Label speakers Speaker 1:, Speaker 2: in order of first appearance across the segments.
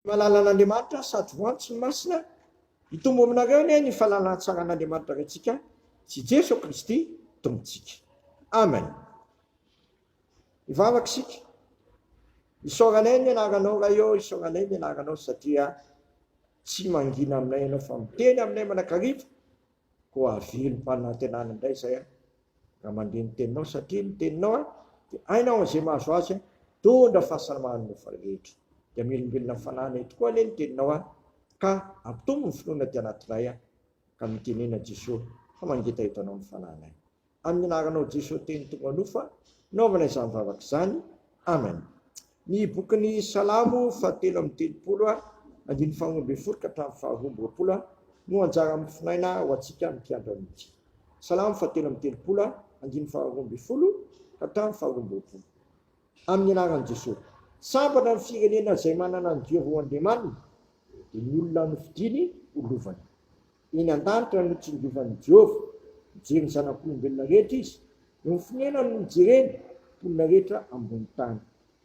Speaker 1: Ny fahalalan'Andriamanitra sady ho antsy ny masina, hitombo aminareo anie ny fahalalan-tsaran'Andriamanitra Raintsika sy i Jeso Kristy Tompontsika. Amen. Hivavaka isika. Isaoranay ny anaranao Ray ô, isaoranay ny anaranao satria tsy mangina aminay ianao fa miteny aminay manakariva Koa havilim-panantenana indray izay aho raha mandre ny teninao, satria ny teninao an, dia hainao aho izay mahazo azy an, mitondra fahasalamana ny mofo rehetra. Dia hamelombelona ny fananay tokoa anie ny teninao an, ka hampitombo ny finoana aty anatinay an, ka mitenena Jesoa fa mangeta eto anao ny fananay. amin'ny anaranao Jeso teny tonga nofa naovana izany vavaka izany Amen ny bokin'ny salamo faha telo amby telopolo a andininy faha roa ambin'ny folo ka hatramin'ny faha roa amby roapolo a no anjara mifinaina ho antsika amin'ny mpiandra mihitsy salamo faha telo amby telopolo a andininy faha roa ambin'ny folo ka hatramin'ny faha roa amby roapolo amin'ny anaran'i Jeso sambatra ny firenena izay manana ny Dieu ho andriamaniny dia ny olona nofidiny ho lovany Eny an-danitra no tsingovan'i Jehovah. Mijery ny zanak'olombelona rehetra izy. Eo amin'ny fonenany no ijereny ny mponina rehetra ambony tany.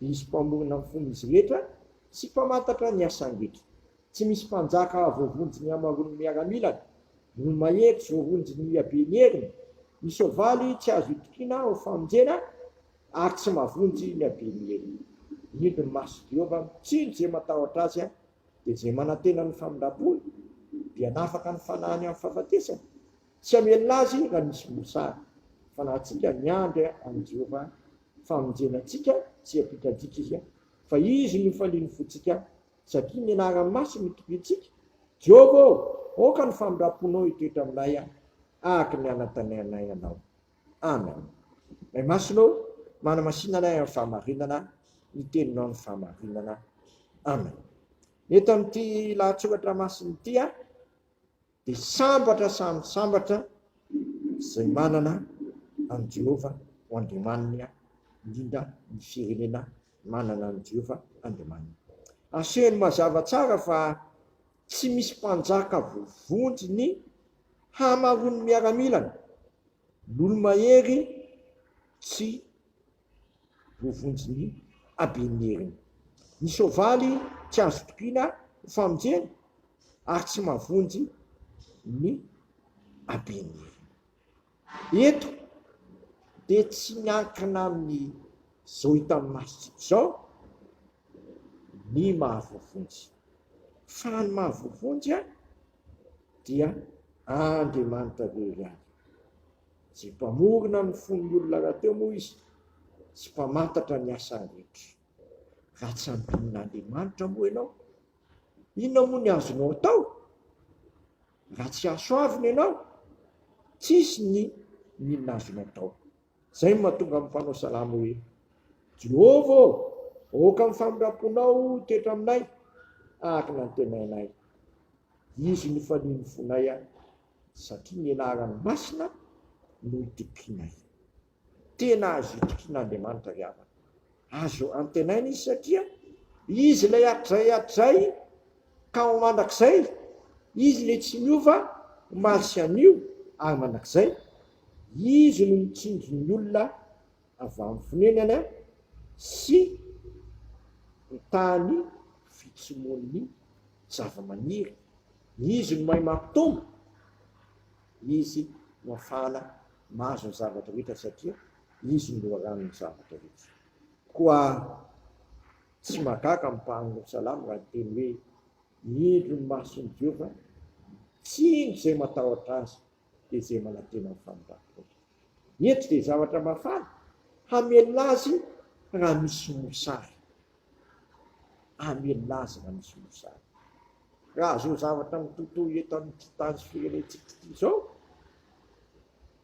Speaker 1: Izy Mpamorona ny fon'izy rehetra sy Mpamantatra ny asany rehetra. Tsy misy mpanjaka hahavoavonjy ny hamaroan'ny miaramilany. Ny olo-mahery tsy voavonjy ny haben'ny heriny. Ny soavaly tsy azo itokiana ho famonjena, ary tsy mahavonjy ny haben'ny heriny. Indro ny mason'i Jehovah mitsinjo izay matahotra azy Dia izay manantena ny famindram-pony dia hanafaka ny fanahiny amin'ny fahafatesana. Tsy hamelona azy raha misy mosary. Fanahintsika ny miandry an'i Jehovah famonjena antsika tsy hiampita-dika izy, fa izy no falian'ny fontsika, satria ny anarany masina no tobintsika. Jehovah ô, aoka ny famindram-ponao hitoetra aminay, araka ny anantenainay anao. Amen Ray Masina ô manamasina anay amin'ny fahamarinana ny teninao ny fahamarinana Amen Eto amin'ity lahatsoratra masina ity aho dia sambatra samy sambatra izay manana an'i Jehovah ho Andriamaniny aho indrindra ny firenena manana an'i Jehovah Andriamaniny. Asehony mazava tsara fa Tsy misy mpanjaka voavonjy ny hamaroan'ny miaramilany, Lolomahery tsy voavonjy ny haben'ny heriny. Ny soavaly tsy azo tokiana ho famonjena ary tsy mahavonjy ny haben'ny heriny. Eto dia tsy miankina amin'ny izao hitan'ny masontsika izao ny maha voavonjy, fa ny maha voavonjy dia Andriamanitra irery ihany. Izay mpamorona ny fon'ny olona rahateo moa izy sy mpamantatra ny asany rehetra. Raha tsy ampian'Andriamanitra moa ianao, inona moa ny azonao atao? Raha tsy hasoavina ianao, tsisy ny inona azony atao. Izay no mahatonga amin'ny mpanao salamo hoe, Jehovah ô, aoka amin'ny famindram-ponao toetra aminay, araka ny antenainay. Izy no fanian'ny fonay, satria ny anarany masina no itokianay. Tena azo itokian'Andriamanitra ry havana. Azo antenaina izy satria Izy ilay hatrizay hatrizay ka ho mandrakizay. Izy ilay tsy miova omaly sy anio ary mandrakizay. Izy no mitsinjo ny olona avy amin'ny fonenana sy mitaha ny fitsimoan'ny zava-maniry. Izy no mahay mampitombo. Izy no afahana mahazo ny zavatra rehetra satria Izy no loharanon'ny zavatra rehetra. Koa tsy mahagaga ny mpanolotry salamo raha hiteny hoe, Indro ny mason'i Jehovah, tsindry izay matahotra azy, dia izay manantena ny famindram-pony. Eto dia zavatra mafana hamelona azy raha misy mosary. Hamelona azy raha misy mosary. Raha izao zavatra mitotoy eto amin'ity tany firenentsika ity izao,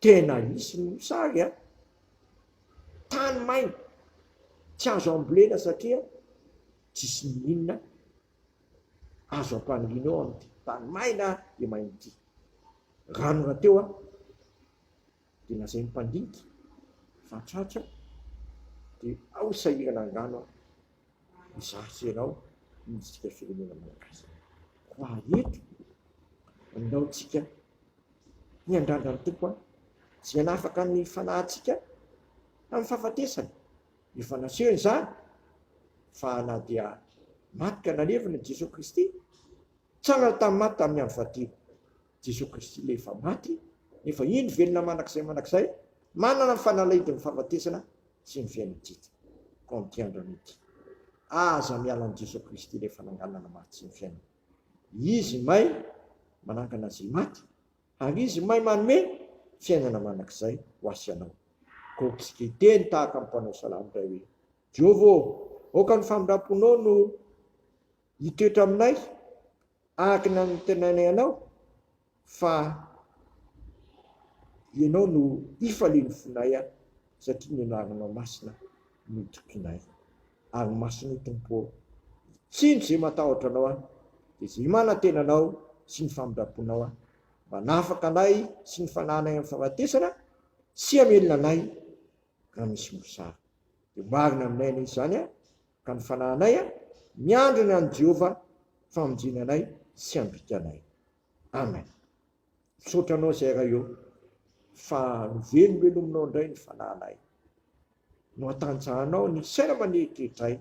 Speaker 1: tena hisy ny mosary an! Tany maina, tsy azo ambolena satria tsisy ny inona azo ampaniriana eo amin'ity tany maina dia maina ity. Rano rahateo an! dia lazain'ny mpandinika fa tratra dia ao sahirana angano aho hizatra ianao ny antsika firenena malagasy koa ary eto andao tsika hiandrandra ny tompo an tsy hanafaka ny fanahantsika amin'ny fahafatesana efa nasehony izany fa na dia maty ka nalevina Jesoa Kristy tsangana tamin'ny maty tamin'ny andro fahatelo Jesoa Kristy ilay efa maty nefa indro velona mandrakizay mandrakizay, manana ny fanalahidin'ny fahafatesana sy ny fiainan'ny tjty. Comprendre an'ity. Aza miala an'i Jesoa Kristy ilay fananganana maty sy ny fiainana. Izy may manangana izay maty ary Izy may manome fiainana mandrakizay ho ahy sy anao. Koks hiteny tahaka ny mpanao salamo indray hoe, Jehovah ô, aoka ny famindram-ponao no. Hitoetra aminay araka ny anontenainay Anao, fa Ianao no hifalian'ny fonay aho, satria ny anaranao masina no itokianay. Ary masina io Tompo ô! Tsindry izay matahotra Anao aho, dia izay manantena Anao sy ny famindram-ponao aho. Manafaka anay sy ny fanahinay amin'ny fahafatesana, sy hamelona anay raha misy mosary. Dia ho marina aminay anie izany an! Ka ny fanahinay a, miandry ny an'i Jehovah famonjena anay sy ambika anay. Amen. Misaotra anao zay Ray ô, fa novelomelominao indray ny fanahinay. No atanjahanao ny saina manetretray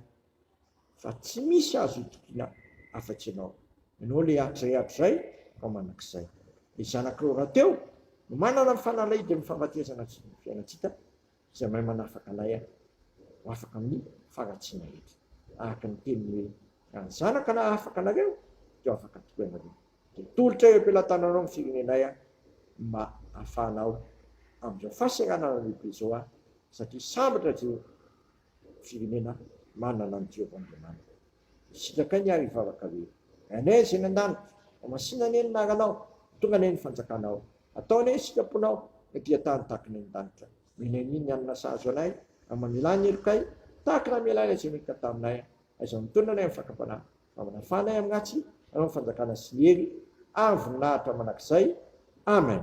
Speaker 1: fa tsy misy azo itokiana afa-tsy ianao. Ianao ilay atrehatra izay fa mandrakizay. Ny zanakao rahateo no manana ny fanalahidy amin'ny fahafatesana sy ny fiainantsika Izay mahay manafaka lay ahy ho afaka amin'ny faharatsiana rehetra. Araka ny teniny hoe, Raha ny Zanaka nahafaka anareo, dia ho afaka tokoa ianareo. Dia tolotra eo am-pelatananao ny firenenay aho mba hahafahanao amin'izao fahaseranana lehibe izao aho, satria sambatra ireo firenena manana an'i Jehovah Andriamaniny. Sitrakai ny ary vavaka hoe, Anie izay any an-danitra, fa masina anie ny anaranao, tonga anie ny fanjakanao, atao anie ny sitraponao, ny dia tany tahaka ny any an-danitra, menay anie ny hanina sahazo anay, ary mamelà ny helokay, tahaka ny namelanay izay nihitana taminay, aiza mitonona anay amin'ny fakam-panahy, mba manafà anay amin'ny ratsy, anao ny fanjakana sy ny hery, ary ny voninahitra mandrakizay. Amen.